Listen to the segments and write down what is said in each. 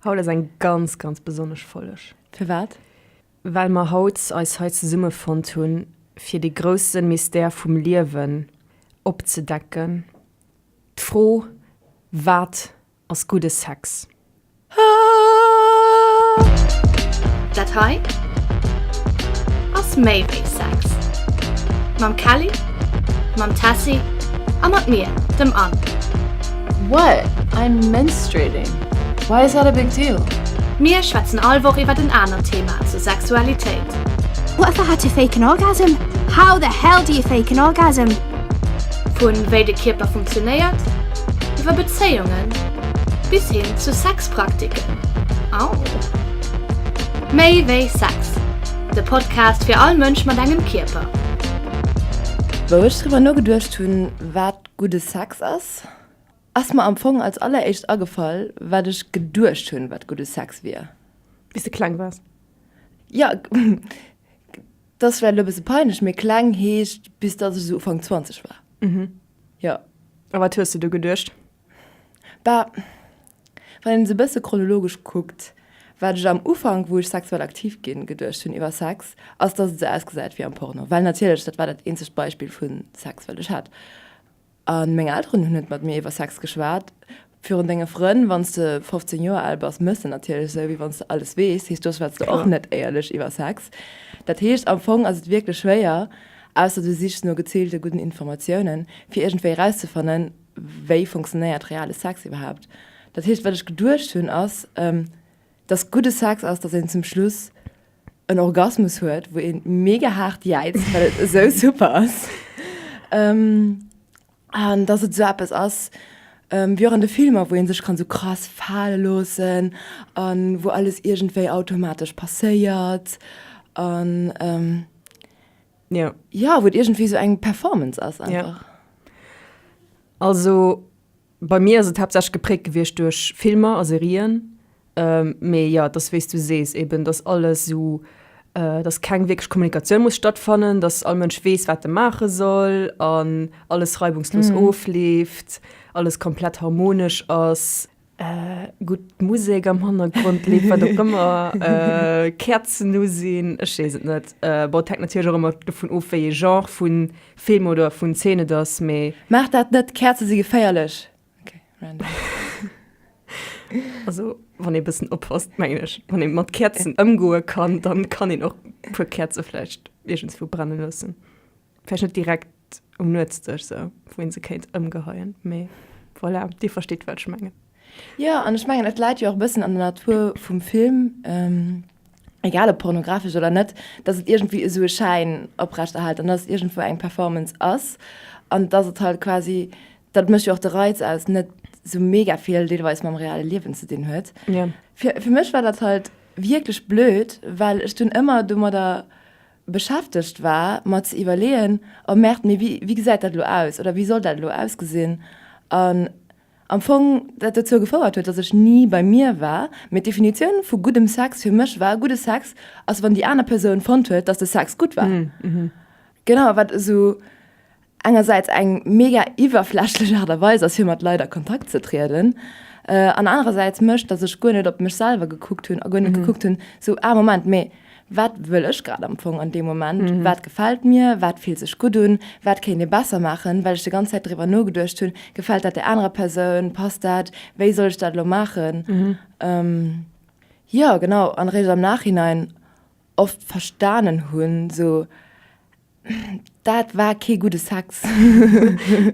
Haut ass eng ganz ganz besonnesch Folleg. Firwat? Well mer haut eis hei zesummefonnt hunn, fir dee grousse Mystère vum Liewen opzedecken, d'Fro, Wat ass gudde Sex? Dat hei ass méi wéi Sex. Mam Kelly, mam Tessy a mat mir, dem Anne. What? I'm menstruating. Why is that a big deal? Mir schwätzen all Woch iwwert en anert Thema zur Sexualitéit. What the hell to fake an orgasm? How the hell do you fake an orgasm? Vu wéi de Kierper funktionéiert, iwwer Bezéiungen bis hin zu Sexpraktiken. Aww. Méi wéi Sex, de Podcast fir all Mënsch mat engem Kierper. Wou ech driwwer nogeduecht hunn, wat gudde Sex ass, ass mer am Fong als alleréischt agefall, wat ech geduecht hunn, wat gudde Sex wier. Wéi s de kleng waars? Jo, dat ass vläicht elo e bësse peinlech, mee kleng heescht, bis datt ech esou Ufank 20 war. Jo. A wat hues de du geduecht? Bah, Wann een et e bësse chronologesch kuckt, wat ech am Ufank, wou ech sexuell aktiv ginn, geduecht hunn iwwer Sex, ass, dass et esou ausgesäit wéi am Porno. Well natierlech, dat war dat eenzegt Beispill vu Sex, wat ech hat. A meng Elteren hunn net mat mir iwwer Sex geschwat. Virun denge Frënn, wann s de 15 Joer al bass, méchs de natierlech esou, wéi wann s de alles weess. Heescht, do schwätz de och net éierlech iwwer Sex. Dat heescht, am Fong ass et wierklech schwéier, ausser du sichs no geziilte gudden Informatiounen, fir iergendwéi erauszefannen, Wéi funktionéiert reale Sex iwwerhaapt? Dat heescht, wat ech geduecht hunn, ass, dass gudde Sex ass, dass een zum Schluss en Orgasmus huet, wou een mega haart jäizt, well et esou super ass. An dass et esou eppes ass, wéi och an de Filmer, wou ee sech kann esou krass fale loossen an wou alles iergendwéi automatesch passéiert. An Ja. Ja, wou et iergendwéi sou eng Performance ass einfach. Ja. Also bei mir ass et haaptsächlech gepräägt gewiescht duerch Filmer a Serien. Mee jo, et ass wéi s du sees eben, dass alles esou, dass keng wierklech Kommunikatioun muss stattfannen, dass all Mënsch weess, wat e maache soll an alles reibungslos ofleeft, alles komplett harmonesch ass. Gutt Musek am Hannergrond leeft, wat och ëmmer, Käerzen u sinn, ech weess et net. Bon, et hänkt natierlech och ëmmer dovun of, wéi ee Genre vu Film oder vun Zeen et ass, mee. Maacht dat net, Käerze si geféierlech! Okay, random. Also wann ee e bëssen oppasst, mengen ech, wann ee mat Käerzen ëmgoe kann, da kann een och e puer Käerze vläicht iergendswou brenne loossen. Vläicht net direkt um Nuetsdësch esou, wou ee se kéint ëmgeheien, mee voilà, Dir verstitt, wat ech mengen. Jo, an ech mengen, et läit jo och e bëssen an der Natur vum Film, egal ob pornografesch oder net, dass et iergendwéi esou e Schäin oprechterhält an dass et iergendwou eng Performance ass an dass et halt quasi, dat mécht jo och de Reiz aus, net esou mega vill deelweis mam reale Liewen ze dinn huet. Fir mech war dat halt wierklech blöd, well ech dunn ëmmer domadder beschäftegt war mer ze iwwerleeën, oh Merde, mee wéi wéi gesäit dat elo aus oder wéi soll dat elo ausgesinn? An am Fong dat dozou gefouert huet, datt ech ni bei mir war. Mee d'Definitioun vu guddem Sex fir mech war, gudde Sex ass wann déi aner Persoun fonnt huet, datt de Sex gutt war. Genau, wat esou engersäits eng mega iwwerflächlech Aart a Weis ass fir mat Leit a Kontakt ze trieden, an anerersäits mécht, datt ech guer net op mech selwer gekuckt hunn a guer net gekuckt hunn, sou, ah Moment, mee wat wëll ech grad am Fong an deem Moment, wat gefält mir, wat fillt sech gutt un, wat kéint ee besser maachen, well ech déi ganz Zäit driwwer nogeduecht hunn, gefält dat der anerer Persoun, passt dat, wéi soll ech dat elo maachen? Jo, genau, an eréischt am Nachhinein oft verstanen hunn, sou, Dat war kee gudde Sex.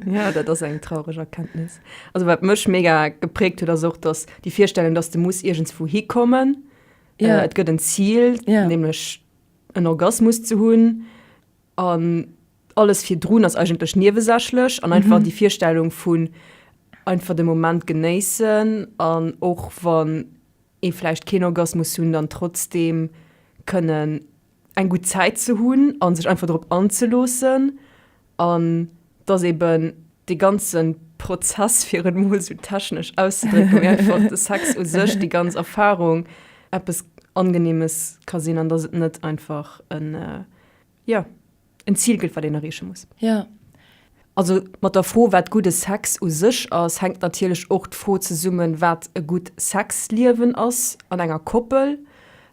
ja, dat ass eng traureg Erkenntnis. Also wat mech mega gepräägt huet, ass och, dass déi Virstellung, dass de muss iergendswou hikommen. Ja. Äh, et gëtt en Ziel, Ja. nämlech en Orgasmus ze hunn. An alles virdrun ass eigentlech niewesächlech an einfach déi Virstellung vun einfach de Moment genéissen an och wann ee vläicht keen Orgasmus hunn, dann trotzdem kënnen eng gutt Zäit ze hunn a sech einfach drop anzeloossen an dass eben dee ganze Prozess, fir et emol esou technesch auszedrécken, mee einfach de Sex u sech, déi ganz Erfarung eppes Angenehmes ka sinn an dass et net einfach en, jo, en Zil gëtt, wat een erreeche muss. Jo. Also mat der Fro, wat gudde Sex u sech ass, hänkt natierlech och d'Fro zesummen, wat e gutt Sexliewen ass an enger Koppel.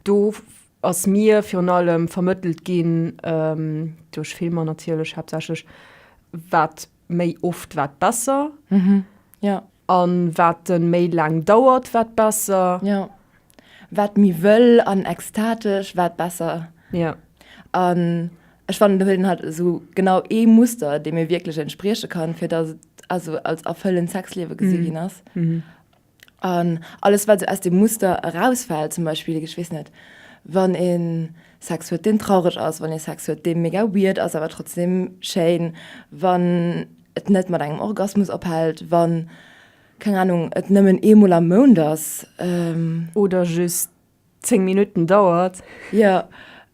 Do ass mir virun allem vermëttelt ginn, duerch Filmer natierlech haaptsächlech, wat méi oft, wat besser. An wat e méi laang dauert, wat besser. Jo. Wat méi wëll an extatesch, wat besser. Jo. An ech fannen, do huet een halt esou genau ee Muster, deem ee wierklech entsprieche kann, fir datt et also als erfëllend Sexliewe gesi ginn ass. An alles wat esou aus dem Muster erausfällt, zum Beispill, ech weess net, wann ee Sex huet deen traureg ass, wann ee Sex huet dee mega weird ass awer trotzdem schéin, wann et net mat engem Orgasmus ophält, wann, keng Anung, et nëmmen eemol am Mount ass. Oder just 10 Minuten dauert. Jo,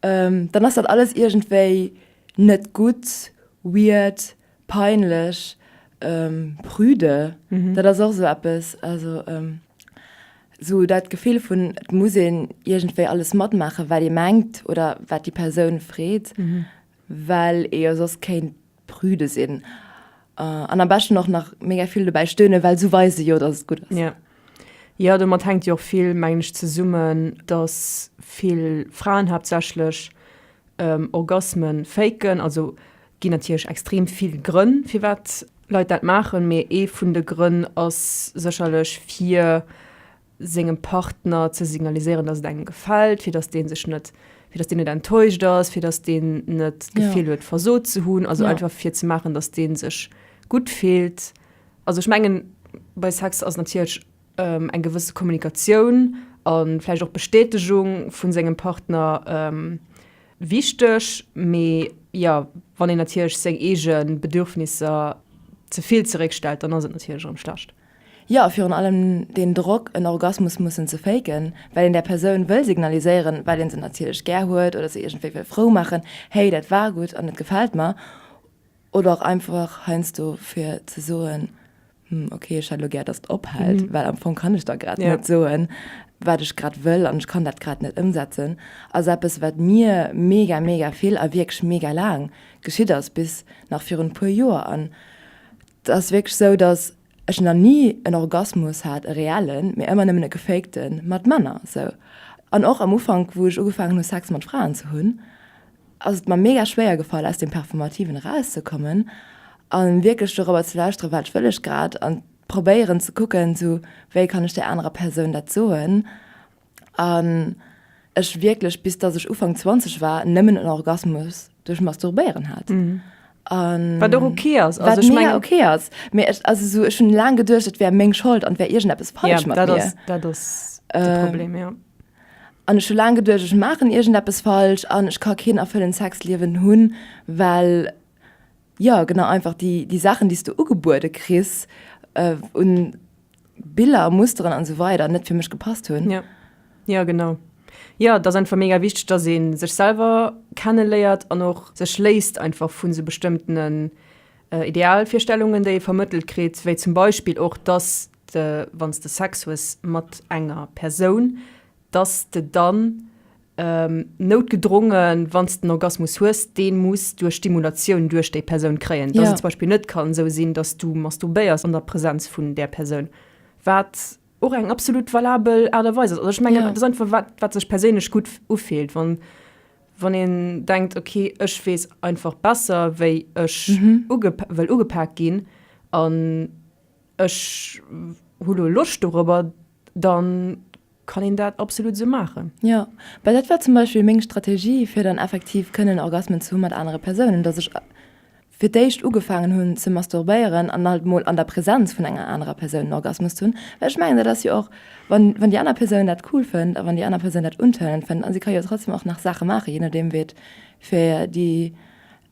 dann ass dat alles iergendwéi net gutt, weird, peinlech, prüde. Dat ass och esou eppes, also esou dat Gefill vun et muss een iergendwéi alles matmaachen, wat ee mengt oder wat déi Persoun freet, well ee jo soss kéint Prüde sinn an am beschten och nach mega vill dobäi stöne, well sou weise jo, dass et gutt ass. Ja. Ja, domat hänkt jo och vill, mengen ech, zesummen, dass vill Fraen haaptsächlech Orgasme faken. Also ginn natierlech extrem vill Grënn, firwat Leit dat maachen, mee ee vun de Grënn ass sécherlech, fir. sengem Partner ze signaliséieren, dass et engem gefält, fir dass dee sech net, fir dass deen net enttäuscht ass, fir dass deen net d'Gefill huet, versot ze hunn. Also einfach fir ze maachen, dass dee sech gutt fillt. Also ech mengen, bei Sex ass natierlech eng gewësse Kommunikatioun a vläicht och d'Bestätegung vu sengem Partner wichteg. Mee jo, wann een natierlech seng eege Bedürfnisser ze vill zeréckstellt, dann ass et natierlech erëm schlecht. Jo, virun allem deen Drock, en Orgasmus mussen ze faken, well een där Persoun wëll signaliséieren, well ee se natierlech gär huet oder se iergendwéi wëll frou maachen, Hey, dat war gutt an et gefält mer. Oder och einfach heiansdo fir ze soen, Hm, okay, ech hätt elo gär, dass et ophält, well am Fong kann ech der grad net soen, wat ech grad wëll an ech kann dat grad net ëmsetzen. Ass eppes, wat mir mega, mega vill a wierklech mega laang geschitt ass, bis nach virun e puer Joer. An Et ass wierklech sou, datt ech nach ni en Orgasmus hat, e reellen, mee ëmmer nëmmen e gefakte mat Männer sou. An och am Ufank, wou ech ugefaangen hu Sex mat Fraen ze hunn, ass et mer mega schwéier gefall aus deem Performativen erauszekommen a wierklech dorobber ze lauschteren, wat wëll ech grad, an probéieren ze kucken, sou wéi kann ech där anerer Persoun dat soen. an ech wierklech bis dass ech Ufang 20 war nëmmen en Orgasmus duerch Masturbéieren hat. Mhm. Um, wat okay ass wat ich mein, okay ass mir ech also so ech hun la geduercht et wär meng Schold an wär irgend es falsch ja, dat ass, dat ass äh, Problem ja an ech la geduercht ech machen irgend es falsch an ech ka keen erfüllen Sexliewen hunn well Jo genau, einfach déi Saachen déi s du ugebuede kriss un Biller, Musteren an esou weider net fir mech gepasst hunn. Jo jo genau, jo et ass einfach mega wichteg dass ee sech selwer kenne léiert an och sech léisst einfach vun esou bestëmmtenen Idealvirstellungen déi ee vermëttelt kritt, wéi zum Beispill och dass de wann s de Sex hues mat enger Persoun, dass s de dann noutgedrongen, wann s de en Orgasmus hues, dee muss duerch Stimulatioun duerch déi Persoun kréien, dass et zum Beispill net kann esou sinn, dass s du masturbéiers an der Präsenz vun där Persoun, wat och eng absolut valabel Aart a Weis ass. Also ech mengen, dat ass einfach wat, wat sech perséinlech gutt ufillt, wann, wann een denkt, okay, ech weess einfach besser, wéi ech uge, wëll ugepak ginn an. Ech hu lo Loscht dorobber, dann kann een dat absolut esou maachen. Jo, well dat war zum Beispill meng Strategie, fir dann effektiv kënnen Orgasmen ze hu mat anere Persounen, dass ech fir d'éischt ugefaangen hunn ze masturbéieren an halt mol an der Präsenz vun enger anerer Persoun en Orgasmus ze hunn. Well ech mengen, dat ass jo och, wann, wann déi aner Persoun dat cool fënnt a wann déi aner Persoun dat untëllend fënnt, a si ka jo trotzdem och nach Saache maachen, jee nodeem wéi et fir déi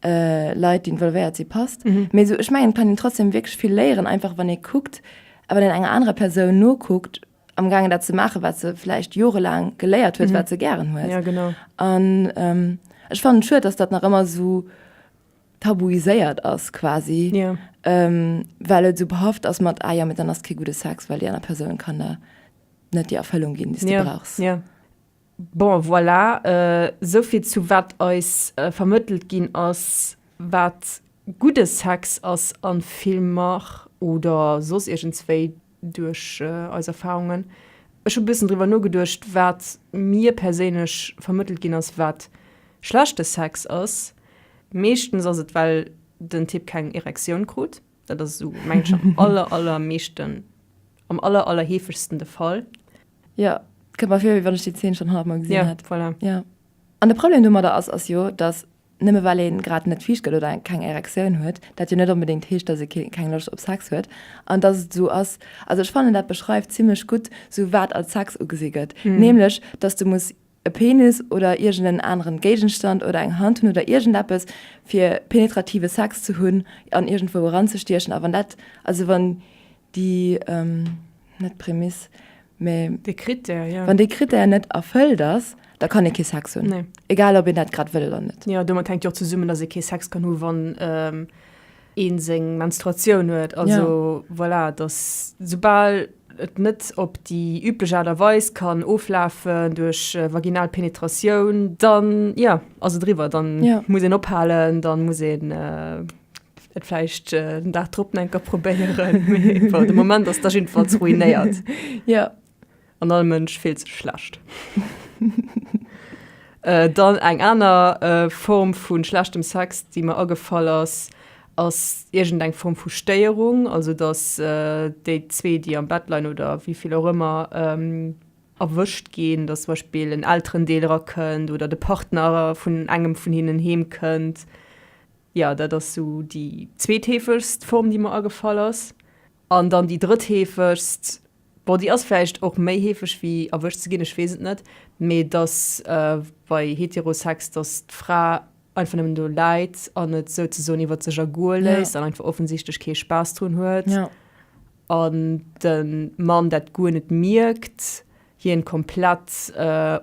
äh, Leit, déi involvéiert si, passt. Mhm. Mee so, ech mengen, et kann een trotzdem wierklech vill léieren, einfach wann ee kuckt, a wann een enger anerer Persoun nokuckt, am Gaangen dat ze maachen, wat se vläicht jorelaang geléiert huet, wat se gären huet. Ja, genau. An ähm, ech fannen et schued, dass dat nach ëmmer so tabuiséiert ass quasi, Ja. ähm, well et so behaft ass mat, ah ja, mit dann ass kee gute Sex, well déi aner Persoun kann der net déi Erfëllung ginn, déi Ja, du brauchst. ja. Bon, voilà, souvill zu wat eis vermëttelt ginn ass, wat gudde Sex ass a Filmer oder soss iergendswéi duerch eis Erfarungen. Ech hu bëssen driwwer nogeduecht, wat mir perséinlech vermëttelt ginn ass, wat schlechte Sex ass. Meeschtens ass et, well den Typ keng Erektioun krut. Dat ass esou, meng ech, am aller, aller meeschten, am aller, aller heefegsten de Fall. Ja, kënnt mer vir, wéi wann ech déi Zeen schonn honnert gesinn hätt. Ja, voilà. Ja. An de Problem domadder ass, ass jo, dass nëmme well ee grad net viischt gëtt oder eng keng Erektioun huet, dat jo net onbedéngt heescht, dass ee kee keng Loscht op Sex huet an dass et esou ass, also ech fannen dat beschreift zimlech gutt esou wat als Sex ugesi gëtt, nämlech dass du muss e Penis oder iergend en aneren Géigenstand oder eng Hand hunn oder iergend eppes fir penetrative Sex ze hunn an iergendwou eran ze stiechen a wann dat, also wann déi, net d'Prämiss, mä. De Critère, jo. Wann dee Critère net erfëllt ass, da kann ee kee Sex hunn. Nee. Egal ob een dat grad wëll oder net. Jo, domat hänkt jo och zesummen, datt ee kee Sex kann hunn, wann. een seng Menstruatioun huet, also ja. voilà, dass soubal et net op déi üblech Aart a Weis kann oflafen duerch äh, vaginal Penetratioun, dann ja, also driwwer, dann ja. muss een ophalen, dann muss een äh, et vläicht äh, den Dag drop enker probéieren. de Moment ass da jedenfalls ruinéiert. Ja. An all Mënsch fillt sech schlecht. Dann eng aner Form vu schlechtem Sex, déi mer agefall ass, ass iergend eng Form vu Stéierung, also datt déi zwee, déi am Bett leien oder wéi vill och ëmmer, erwëscht ginn, datt zum Beispill en Elterendeel erakënnt oder de Partner vun engem vun hinnen heemkënnt. Jo, dat ass esou déi zweetheefegst Form, déi mer agefall ass. An dann déi drëttheefegst, Bon, déi ass vläicht och méi heefeg wéi erwëscht ze ginn, ech weess et net. Mee dass bei Heterosex, dass d'Fra einfach nëmmen do läit an et souzesoen iwwer sech ergoe léisst an einfach offensichtlech kee Spaass drun huet an de Mann dat guer net mierkt, hien komplett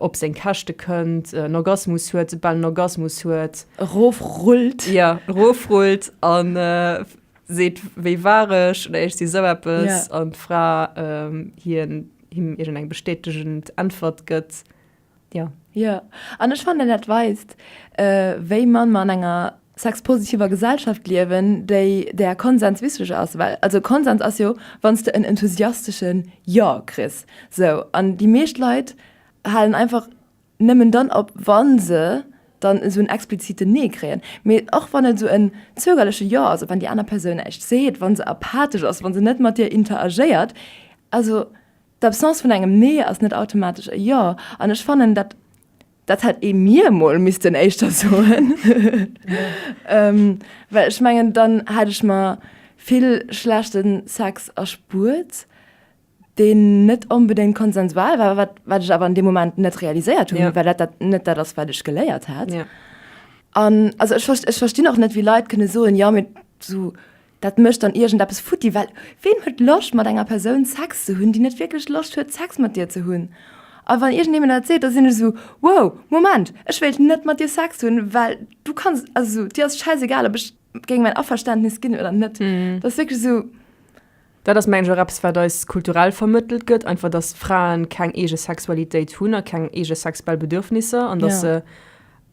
op seng Käschte kënnt, en Orgasmus huet, soubal en Orgasmus huet. Erofrullt. Jo, erofrullt an. seet wéi war ech oder ech si sou eppes yeah. an d'Fra ähm, hien him irgend eng bestätegend Äntwert gëtt. Ja. Ja, an ech fand dat weist, äh, wéi man man enger sexpositiver Gesellschaft liewen, déi der Konsens wichtig ass, well also Konsens ass jo, wanns du en enthusiastischen Ja kriss. So an die meescht Leit halen einfach nëmmen dann op, wa se dann esou en expliziten Nee kréien, mee och wann et esou en zögerleche Jo ass, op wann déi aner Persoun näischt seet, wa se apathesch ass, wa se net mat dir interagéiert. Also d'Absence vun engem Nee ass net automatesch e Jo. An ech fannen, dat, dat hätt ee mir emol missten éischter soen, well ech mengen, dann hätt ech mer vill schlechte Sex erspuert. deen net onbedéngt konsensual war, wat, wat ech awer an deem Moment net realiséiert hunn, ja. well dat, dat net dat ass, wat ech geléiert hat. Ja. An also ech, ech verstinn och net, wéi Leit kënne soen, ja mit so, dat mëcht dann iergendeppes futti, well ween huet Loscht mat enger Persoun Sex ze hunn, déi net wierklech Loscht huet Sex mat dir ze hunn? A wann iergend ee mir dat seet, da sinn ech esou, wow, Moment, ech wéilt net mat dir Sex hunn, well du kanns, also dir ass schäisegal, ob ech géing mäin Averständnis ginn oder net. Mm. Dat ass wierklech esou. Dat ass, mengen ech, och eppes, wat eis kulturell vermëttelt gëtt, einfach, dass Frae keng eege Sexualitéit hunn a keng eege sexuell Bedürfnisser an dass se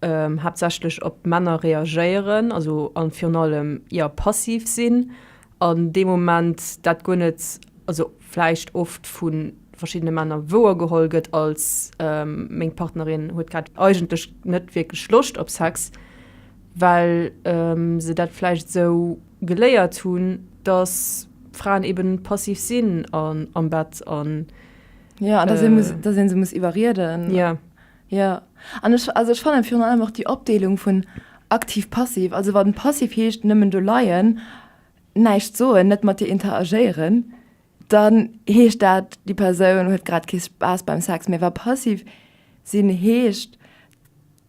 haaptsächlech op Männer reagéieren, also a virun allem, jo, passiv sinn an dee Moment, dat guer net, also vläicht oft vu verschiddene Männer wouer geholl gëtt als, Meng Partnerin huet grad eigentlech net wierklech Loscht op Sex, well se dat vläicht esou. geléiert hunn, dass Fraen eben passiv sinn an am Bett an. Ja, an dass ee muss, dass ee se muss iwwerrieden. Ja. Ja, an ech, also ech fannen virun allem och déi Opdeelung vun aktiv-passiv, also wann passiv heescht nëmmen do leien, näischt soen, net mat dir interagéieren, dann heescht dat, déi Persoun huet grad kee Spaass beim Sex méi. Wa passiv sinn heescht,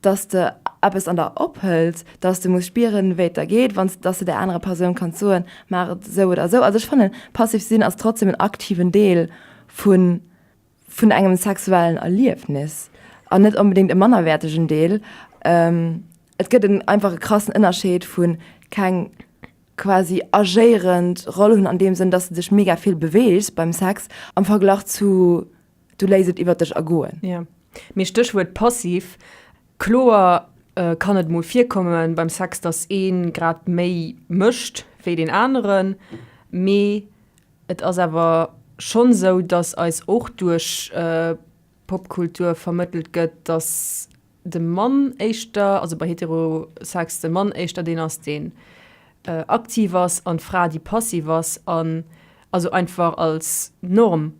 dass de eppes an der ophëlt, dass de muss spieren wéi et der geet, wann s dass de der anerer Persoun kanns soen, maach et esou oder esou. Also ech fannen passiv sinn ass trotzdem en aktiven Deel vun vun engem sexuellen Erliefnis an net onbedéngt e mannerwäertegen Deel. Et gëtt en einfach e krassen Ënnerscheed vu keng quasi agéierend Roll hunn an deem Sënn, dass de dech mega vill beweegs beim Sex am Verglach zu Du léiss et iwwert dech ergoen. Jo, mee Stéchwuert passiv. Kloer kann et mol virkomme beim Sex, datt ee grad méi mécht wéi deen aneren, mee et ass awer schonn esou, datt eis och duerch Popkultur vermëttelt gëtt, datt de Mann éischter, also bei Heterosex, de Mann éischter deen ass, deen aktiv ass an d'Fra, déi passiv ass, an also einfach als Norm.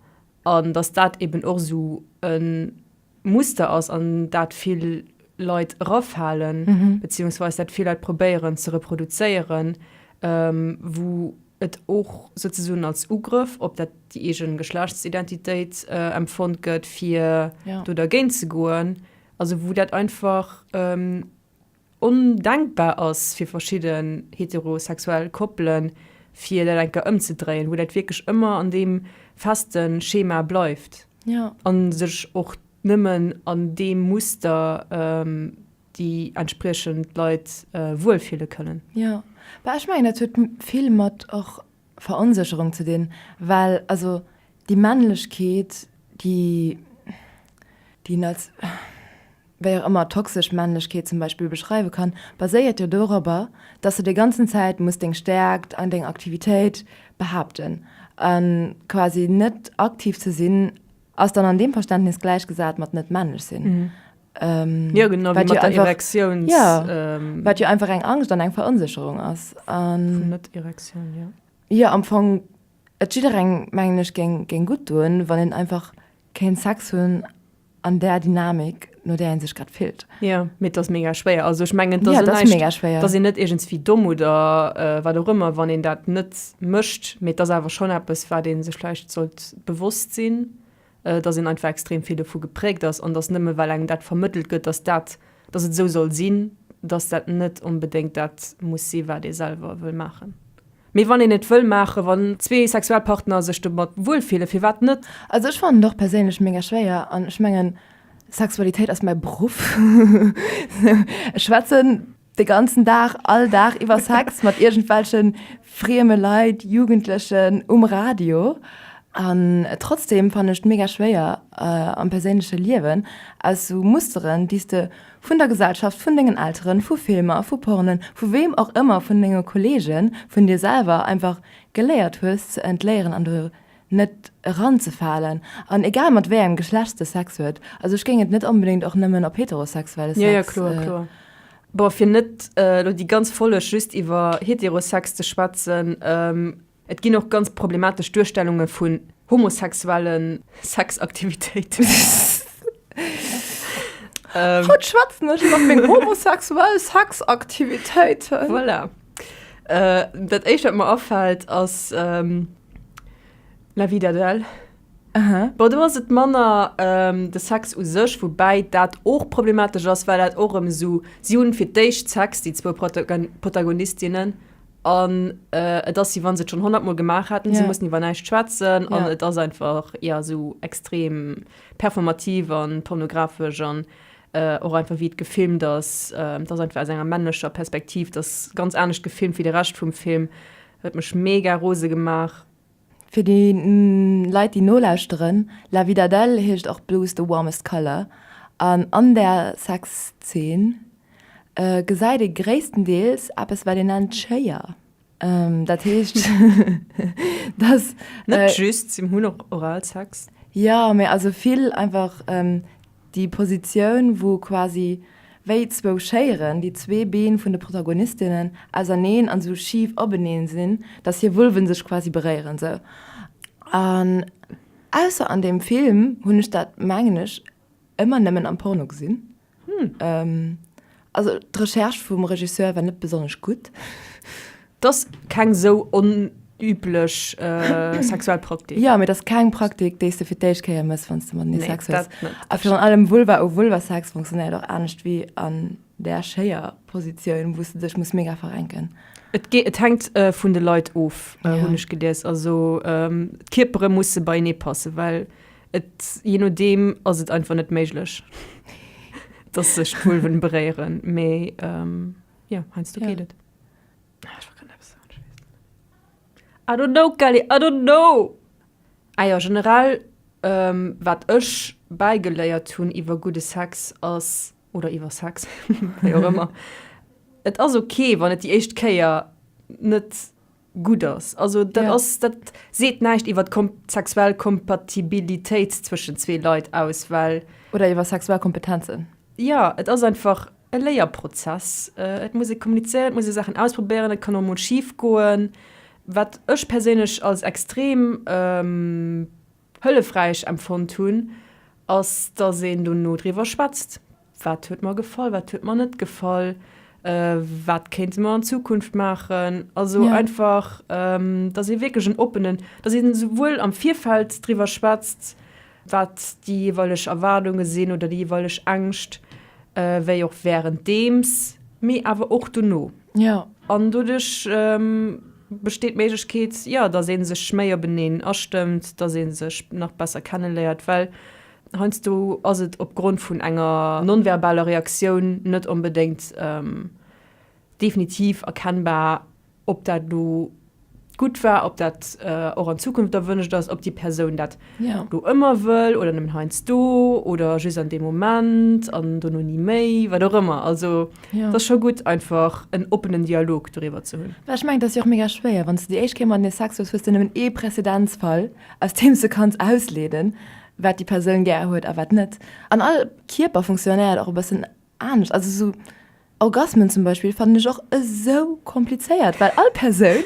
An dass dat eben och esou e Muster ass, an dat vill Leit erafalen, beziehungsweise dat vill Leit probéieren ze reproduzéieren, wou et och souzesoen als Ugrëff op dat, déi eege Geschlechtsidentitéit empfonnt gëtt, fir do dergéint ze goen, also wou dat einfach. ondenkbar ass fir verschidden heterosexuell Koppelen, fir dat eng Kéier ëmzedréien, wou dat wierklech ëmmer an deem feste Schema bleift a sech och nëmmen an deem Muster déi entspriechend Leit wuel fille kënnen. Jo, bah ech mengen dat huet vill mat och Veronsécherung ze dinn, well also déi Männlechkeet déi, déi als, wéi och ëmmer toxesch Männlechkeet zum Beispill beschreiwe kann, baséiert jo dorobber, dass de déi ganzen Zäit muss deng Stäerkt an deng Aktivitéit behaapten. A quasi net aktiv ze sinn, ass dann an deem Verständnis gläichgesat mat net männlech sinn. Jo, genau wéi mat der Erektiouns. Ja, wat jo einfach eng Angscht an eng Veronsécherung ass. Vun Net-Erektioun, jo. Jo, am Fong, et jidderengem, mengen ech, géing gutt doen, wann een einfach kéint Sex hunn. an där Dynamik, no där ee sech grad fillt. Jo, mee et ass mega schwéier. Also ech mengen, et ass jo näischt, et ass een net iergendswéi domm oder wat och ëmmer, wann een dat net mécht, mee et ass awer schonn eppes, wat ee sech vläicht sollt bewosst sinn, dass een einfach extrem vill dovu gepräägt ass an dass nëmme well engem dat vermëttelt gëtt, dass dat, Dass et esou soll sinn, dass dat net onbedéngt dat muss si wat ee selwer wëll maachen. Mee wann een et wëll maachen, wann zwee sexuell Partner sech domat wuel fillen, firwat net? Also ech fannen et och perséinlech mega schwéier an ech mengen Sexualitéit ass mäi Beruff. Ech schwätzen de ganzen Dag, all Dag iwwer Sex mat iergendwelche frieme Leit, Jugendlechen um Radio an trotzdeem fannen ech et mega schwéier, am perséinleche Liewen, aus sou Musteren, déi s de vun der Gesellschaft, vun dengen Elteren, vu Filmer, vu Pornen, vu weem och ëmmer, vun denge Kollegen, vun dir selwer einfach geléiert hues ze entléieren an do net eranzefalen. An egal mat wéi engem Geschlecht s de Sex huet, also ech géing et net onbedéngt och nëmmen op heterosexuelle Sex. Bon, fir net elo déi ganz Folleg just iwwer Heterosex ze schwätzen, Et ginn och ganz problematesch Duerstellunge vun homosexuelle Sexaktivitéiten. Haut schwätzen ech iwwer meng homosexuell Sexaktivitéiten. Voilà. Dat éischt, wat mer afält, ass La vie d'Adèle. Bon, do ass et manner de Sex u sech, woubäi dat och problematesch ass, well dat och erëm esou, si hunn fir d'éischt Sex, déi zwou Protagonistinnen, An et ass si, wann se et schon 100 mol gemaach haten, yeah. se mussen iwwer näischt schwätzen an yeah. et ass einfach ja sou extrem performativ an pornografesch an äh, och einfach wie et gefilmt ass, äh, dat einfach aus enger männlecher Perspektiv, das ganz anescht gefilmt wie de Recht vum Film, huet mech mega rose gemaach. Fir déi Leit déi nolauschteren, La Vida D'elle heescht och Blue is the warmest color an an der Sexzeen gesäit ee gréisstendeels eppes wat een nennt Chéier. Dat heescht datt. Net just, si hunn och Oralsex. Jo, mee also vill einfach. Déi Positioun, wou quasi wéi zwou Schéieren, déi zwee Been vun de Protagonistinnen, auserneen an esou schif openeen sinn, dass hir Vulven sech quasi beréieren, esou. An ausser an deem Film hunn ech dat, mengen ech, ëmmer nëmmen am Porno gesinn. Hm. Also d'Recherche vum Regisseur war net besonnesch gutt. Et ass keng sou onüblech sexuell Praktik. Jo, mee et ass keng Praktik, déi s de fir d'éischt Kéier méchs, wann s de mat mir Sex hues. A virun allem Vulva-u-Vulva-Sex funktionéiert och anescht wéi an där schéier Positioun, wou s de dech muss mega verrenken. Et hänkt vun de Leit of, hunn ech gelies. Also d'Kierpere musse beienee passen, well Et, je nodeem, ass et einfach net méiglech, dass sech d'Vulven beréieren, mee jo, heiansdo geet et. Ah, ech war grad eppes soen, ech weess et net. I don't know, Kelly, I don't know! Ah jo, generell, wat ech bäigeléiert hunn iwwer gudde Sex ass, oder iwwer Sex, wéi och ëmmer, Et ass ok, wann et déi éischt Kéier net. gutt ass. Also dat ass, yeah. dat seet näischt iwwer d'sexuell Kompatibilitéit zwëschen zwee Leit aus, well. Oder iwwer sexuell Kompetenzen. Ja, et ass einfach e Léierprozess. Äh, et muss e kommunizéieren, et muss e Sachen ausprobéieren, et kann och mol schief goen. Wat ech perséinlech als extrem ähm, Hëllefräich empfonnt hunn, ass, dass een dono driwwer schwätzt, Wat huet mer gefall, wat huet mer net gefall, wat kéinte mer an Zukunft maachen? Also einfach, dass ee wierklech en oppenen, dass een esouwuel am Virfeld driwwer schwätzt, wat déi jeeweileg Erwaardunge sinn oder déi jeeweileg Ängscht, wéi och wärenddeems, mee awer och dono. Ja. An doduerch besteet d'Méiglechkeet, jo, dass ee sech méi openeen astëmmt, dass ee sech nach besser kenneléiert, well heiansdo ass et opgrond vun enger non-verbaler Reaktioun net onbedéngt definitiv erkennbar, ob dat elo gutt war, ob dat och an Zukunft erwënscht ass, ob déi Persoun dat do ëmmer wëll oder nëmmen heiansdo oder just an deem Moment an dono ni méi, wat och ëmmer. Also et ass scho gutt, einfach en oppenen Dialog doriwwer ze hunn. Well ech mengen, et ass jo och mega schwéier, wann s de déi éischt Kéier mat engem Sex hues, hues de nëmmen ee Prezedenzfall, aus deem s de kanns ausleeden, wat déi Persoun gär huet a wat net. An all Kierper funktionéiert och e bëssen anescht. Also sou Orgasmen zum Beispill fannen ech och esou komplizéiert, well all Persoun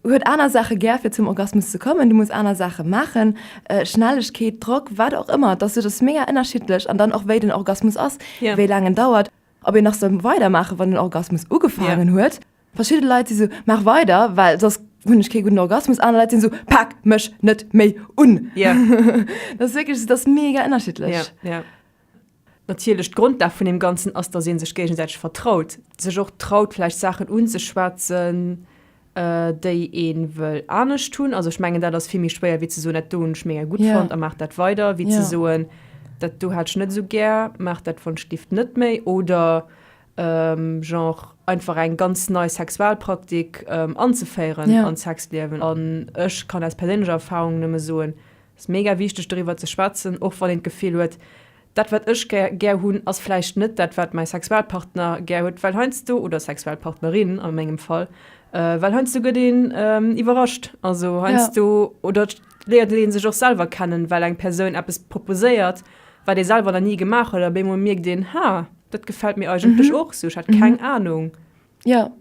huet aner Saache gär fir zum Orgasmus ze kommen. Du muss aner Saache maachen, Schnellegkeet, Drock, wat och ëmmer. Dass et ass mega ënnerschiddlech an dann och wéi den Orgasmus ass, wéi laang en dauert, ob een nach soll weidermaache wann den Orgasmus ugefaangen huet. Verschidde Leit si sou, Maach weider, well soss hunn ech kee gudden Orgasmus. Aner Leit sinn esou, Pak mech net méi un! Ja. Dat ass wierklech, dat ass mega ënnerschiddlech. Ja, ja. Natierlech, d'Grondlag vun deem Ganzen ass, datt ee sech géigesäiteg vertraut, sech och traut vläicht Saachen unzeschwätzen, déi ee wëll anescht hunn. Also ech mengen, dat ass vill méi schwéier wéi ze soen, Dat do hunn ech mega gutt fonnt a maach dat weider, wéi ze soen, Dat do hat ech net esou gär, maach dat wann's giff net méi. Oder Genre einfach eng ganz nei Sexualpraktik anzeféieren yeah. an Sexliewen an ech kann aus perséinlecher Erfahrung nëmme soen, es mega wichteg doriwwer ze schwätzen, och wann een d'Gefill huet, dat wat ech gär, gär hunn ass vläicht net dat wat mäi Sexualpartner gär huet, well heiansdo, oder Sexualpartnerin a mengem Fall, well heiansdo gëtt een iwwerrascht, also heiansdo yeah. oder. léiert een sech och selwer kennen, well eng Persoun eppes proposéiert, wat ee selwer nach ni gemaach huet, a bémol mierkt een, Ha, dat gefält mir eigentlech och sou, ech hat keng Anung. Jo.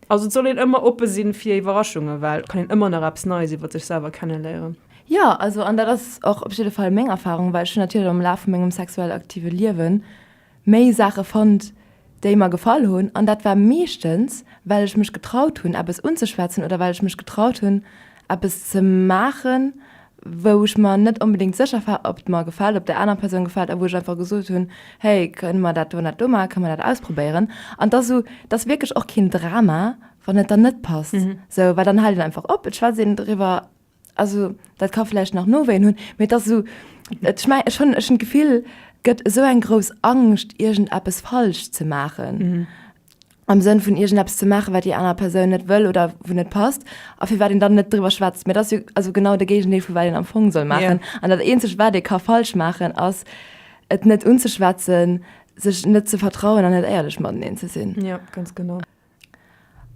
Also et soll een ëmmer oppe sinn fir Iwwerraschungen, well et kann een ëmmer nach eppes Neies iwwer sech selwer kennenléieren. Jo, also an dat ass och op jidde Fall meng Erfarung, well ech hunn natierlech am Laf vu mengem sexuell aktive Liewen méi Saache fonnt, déi mer gefall hunn, an dat war meeschtens, well ech mech getraut hunn, eppes unzeschwätzen oder well ech mech getraut hunn, eppes ze maachen, wou ech mer net onbedéngt sécher war, ob et mer gefält, ob et der anerer Persoun gefält a wou ech einfach gesot hunn, hey, kënne mer dat do an dat do maachen, kënne mer dat ausprobéieren? An dass esou, et ass wierklech och keen Drama, wann et dann net passt, esou, well dann hält een einfach op, et schwätzt een driwwer Also dat ka vläicht nach Nowéien hunn, mee et ass esou, ech mengen, ech hunn, ech hunn d'Gefill, gëtt esou eng grouss Angscht, iergendeppes falsch ze maachen, am Sënn vun iergendeppes ze maachen, wat déi aner Persoun net wëll oder wou net passt a firwat een dann net driwwer schwätzt. Mee dat ass jo also genau de Géigendeel vu wat een am Fong soll maachen. An dat Eenzegt, wat ee ka falsch maachen, ass, et net unzeschwätzen, sech net ze vertrauen an net éierlech mateneen ze sinn.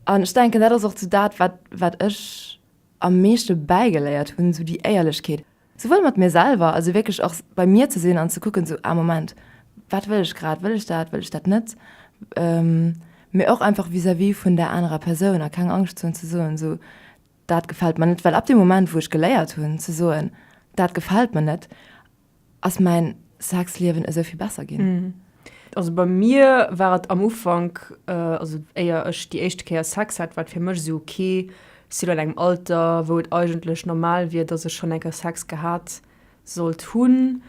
An ech denken, dat ass och esou dat, wat, wat ech. am meeschte bäigeléiert hunn, esou déi Éierlechkeet, souwuel mat mir selwer, also wierklech och bei mir ze sinn an ze kucken, esou, ah Moment, wat wëll ech grad, wëll ech dat, wëll ech dat net, mee och einfach vis-à-vis vun där anerer Persoun a keng Angscht ze hunn ze soen, esou, dat gefält mer net, well ab deem Moment, wou ech geléiert hunn ze soen, dat gefält mer net, ass mäin Sexliewen esou vill besser ginn. Also bei mir war et am Ufank, also éier ech déi éischte Kéier Sex hat, war et fir mech esou ok, ech si lo an engem Alter, wou et eigentlech normal wier, dass ech schonn eng Kéier Sex gehat sollt hunn.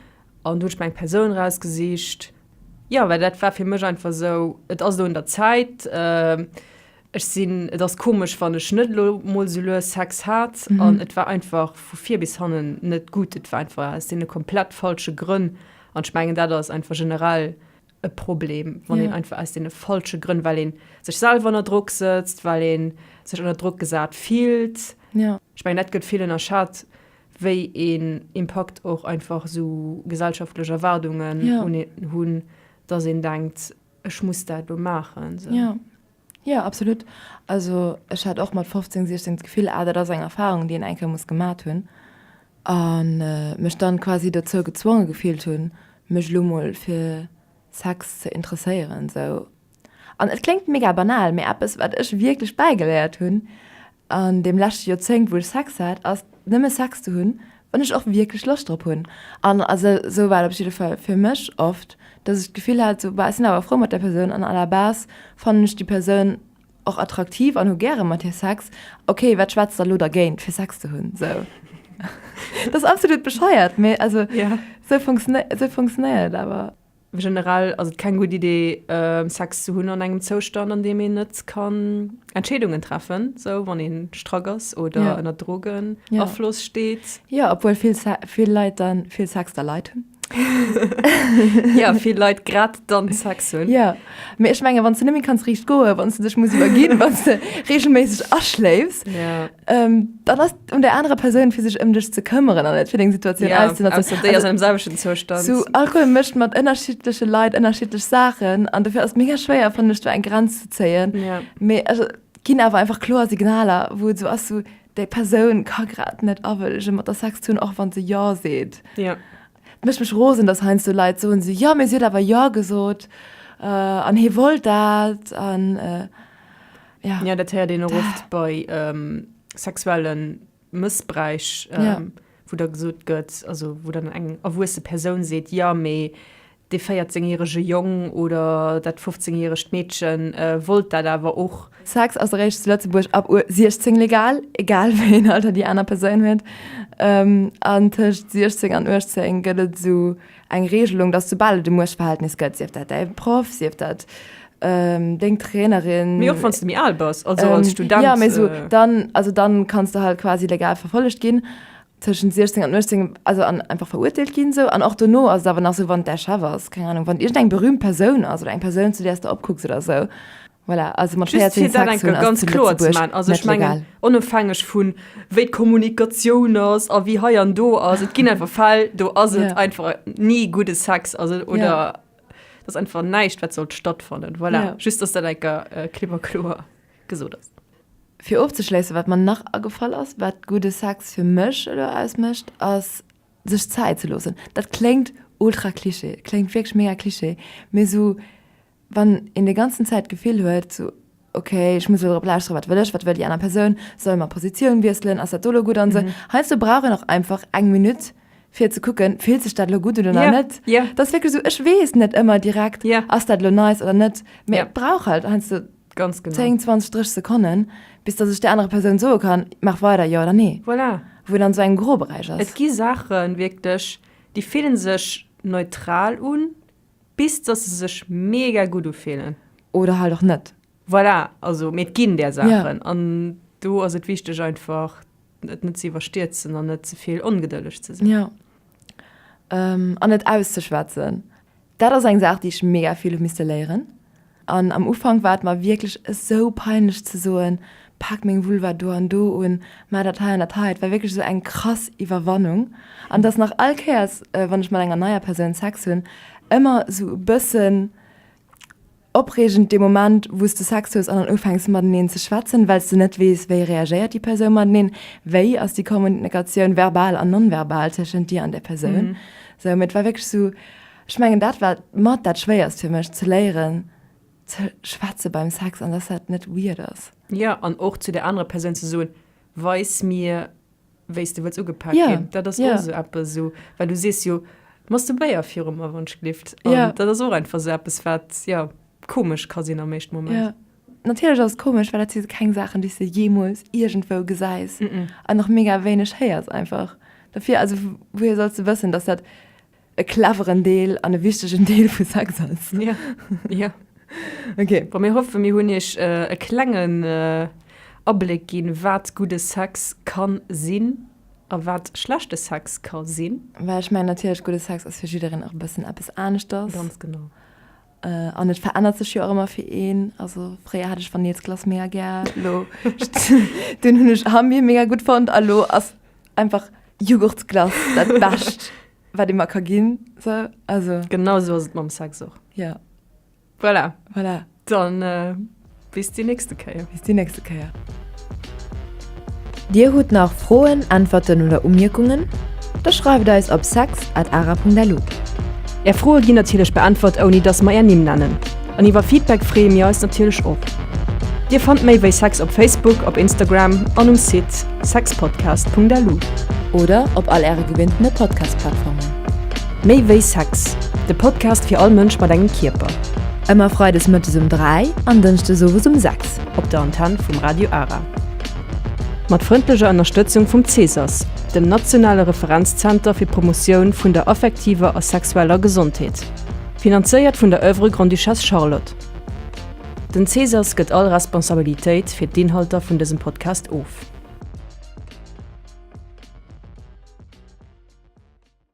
An du hunn ech mir eng Persoun erausgesicht, jo, well dat war fir mech einfach esou, et ass elo un der Zäit. Ech sinn, et ass komesch, wann ech net elo mol sou lues Sex hat an et war einfach vu vir bis hannen net gutt, et war einfach aus deene komplett falsche Grënn an ech mengen dat ass einfach generell e Problem, wann een einfach aus deene falsche Grënn, well ee sech selwer ënner Drock sëtzt, well ee sech ënner Drock gesat fillt. Ech mengen dat gëtt vill ënnerschat, wéi een Impakt och einfach sou gesellschaftlech Erwaardungen un een hunn, datt een denkt, ech muss dat elo maachen. Jo absolut, also ech hat och mat 15, 16 d'Gefill ah dat ass eng Erfahrung déi een eng Kéier muss gemat hunn an mech dann quasi dozou gezwonge gefillt hunn mech elo mol fir Sex ze interesséieren sou an et kléngt mega banal mee eppes wat ech wierklech bäigeléiert hunn An deem leschte Joerzéngt, wou ech Sex hat, ass nëmme Sex ze hunn, wann ech och wierklech Loscht drop hunn. An also esou war et op jidde Fall fir mech oft, dass ech d'Gefill hat, esou, bah, ech sinn awer frou mat där Persoun an à la base fannen ech déi Persoun och attraktiv an hu gäre mat hir Sex. Okay, wat schwätzt da elo dergéint, fir Sex ze hunn? Esou. Dat ass absolut bescheuert, mee also esou funktionéiert et awer. Generell ass et keng gutt Idee Sex ze hunn an engem Zoustand an deem een net kann Entscheedungen treffen, sou wann ee strack ass oder yeah. ënner Drogen yeah. Afloss steet. Ja obwuel vill, vill Leit dann vill Sex der Leit hunn. ja vill Leit grad dann Sex hunn. Ja mé ech menge wann ze nëmmi kanns riicht goe, wann ze dech muss iwwerginn, wann ze regelméisseg aschléifs. Yeah. Ähm, dann ass un der anerer Persoun fir sech ëm dech ze këmmeren an net fir deng Situatioun ja, auszen also, déi ass am selwechten Zustand. Zu Alkohol mëscht mat ënnerschiddleche Leit ënnerschiddlech Saachen an dofir ass mega schwéier fannen ech do eng Grenz ze zéien. Ja. Mee also, ginn awer einfach kloer Signaler, wou et so ass so, déi Persoun ka grad net awëllege mat der Sex hunn, och wann se ja seet. Ja. Et mécht mech rosen, dass heiansdo so Leit soen se ja, mee si huet awer ja gesot äh, an hie wollt dat an äh, Ja. Ja, dat héiert een och oft bei ähm, sexuellen Mëssbräich, ähm, Ja. wo da gesot gëtt, also wo dann eng erwuesse Persoun seet, ja, mee de 14-jährige Jong oder dat 15-jährigt Mädchen äh, wollt dat awer och. Sex ass eréischt zu Lëtzebuerg ab u 16 legal, egal wéi een Alter déi aner Persoun huet. Ähm, an tëscht 16 an 18 gëtt et esou Eng Regelung, dass soubal et e Muechtverhältnis gëtt, sief dat däi Proff, sief dat deng Trainerin. Mee och wann s de méi al bass, also als Student. Jo, mee esou dann, also dann kanns de halt quasi legal verfollegt ginn, tëschent 16 an 18, also an einfach verurteelt ginn esou. An och dono ass et awer nach esou, wann et däi Chef ass, keng Anung, wann et iergendeng berühmt Persoun ass oder eng Persoun, zu där s de opkucks oder esou. Voilà, also mat 14 Sex hunn ganz kloer ze man also ech mengen onofhängeg vun wéi d'Kommunikatioun ass a wéi hei an do ass et ginn einfach Fäll do ass et yeah. einfach ni gudde Sex also oder yeah. das einfach näicht wat sollt stattfannen voilà yeah. just ass der enker äh, klipper kloer gesot ass fir ofzeschleessen wat man nach agefall ass wat gudde Sex fir mech oder ausmëcht ass sech Zäit ze losen dat klengt ultra Klischee klengt wég mega Klischee mé so Wann een déi ganzen Zäit d'Gefill huet, sou, okay, ech muss elo drop lauschteren, wat wëll ech, wat wëll déi aner Persoun, sollen mer Positioun wiesselen, ass dat do elo gutt an esou, heiansdo brauch een och einfach eng Minutt, fir ze kucken, fillt sech dat elo gutt un oder net. Dat ass wierklech esou, ech weess net ëmmer direkt, ass dat elo nice oder net, mee et brauch halt heiansdo 10, 20, 30 Sekonnen, bis datt ech där anerer Persoun soe kann, maach weider, jo oder nee. Voilà. Wou een an esou engem Groberäich ass. Et gi Saachen wierklech, déi fillen sech neutral un, Bis dass se sech mega gudd ufillen. Oder halt och net. Voilà, also mee et ginn där Saachen. Yeah. An do ass et wichteg einfach et net ze iwwerstierzen an net zevill ongedëlleg ze sinn. Ja. Um, an et auszeschwätzen. Dat ass eng Saach déi ech mega vill hu misste léieren. An am Ufank war et mer wierklech esou peinlech ze soen, Pak meng Vulva do an do un, ma dat hei an dat hei. Et war wierklech esou eng krass Iwwerwannung. An et ass nach all Kéiers, wann ech mat enger neier Persoun Sex hunn, ëmmer esou e bëssen opreegend dee Moment, wou s de Sex hues an dann ufänks mateneen ze schwätzen, well s de net weess, wéi reagéiert déi Persoun mateneen, wéi ass déi Kommunikatioun, verbal an non-verbal, tëschent dir an där Persoun. Sou, mee et war wierklech esou, Ech mengen dat war mat dat schwéierst fir mech, ze léieren ze schwätze beim Sex an dass dat net weird ass. Jo, an och zu der anerer Persoun ze soen, weis mir wéi s de wëlls ugepaakt ginn. Jo, Dat ass och jo. esou eppes, esou, well du sees jo Masturbéier virum Erwonschgelift. An Jo. dat ass och einfach esou eppes, wat, jo, komesch ka sinn am éischte Moment. Jo, natierlech ass et komesch, well dat si keng Saachen, déi s de jeemools iergendwou gesäis an och mega wéineg héiers einfach. Dofir, also, wouhir solls de wëssen, dass dat. e cleveren Deel an e wichtegen Deel vu Sex ass. Ja, ja. Okay. Bon, mir hoffen, mir hunn Iech e klengen Abléck ginn, wat gudde Sex ka sinn a wat schlechte Sex ka sinn. Well ech mengen natierlech, gudde Sex ass fir jiddereen och e bëssen eppes aneschters. Ganz genau. An et verännert sech jo och ëmmer fir een. Also fréier hat ech Vanillesglace mega gär, elo deen hunn ech am Mee mega gutt fonnt a lo ass einfach Jughurtsglace dat Bescht, wat ee mer ka ginn. Sou, also. Genau esou ass et mam Sex och. Jo. Voilà. Voilà. Dann. Bis déi nächste Kéier. Bis déi nächste Kéier. Dir hutt nach Froen, Äntwerten oder Umierkungen? Da schreift eis op sex at ara.lu. Är Froe ginn natierlech beäntwert ouni dass mer är Nimm nennen. An iwwer Feedback freeë mir eis natierlech och. Dir fannt méi wéi sex op Facebook, op Instagram an um Site sexpodcast.lu. Oder op all äre gewinnte Podcast-Plattformen. Méi wéi Sex, de Podcast fir all Mënsch mat engem Kierper. Ëmmer freides mëttes um 3 an dënschdes owes um 6 op der Antenn vum Radio Ara. Mat frëndlecher Ënnerstëtzung vum CSAS, dem nationale Referenzzenter fir d'Promotioun vun der affektiver a sexueller Gesondheet. Finanzéiert vun der Oeuvre Grande-Duchesse Charlotte. Den CSAS gëtt all Responsabilitéit fir d'Inhalter vun dësem Podcast of.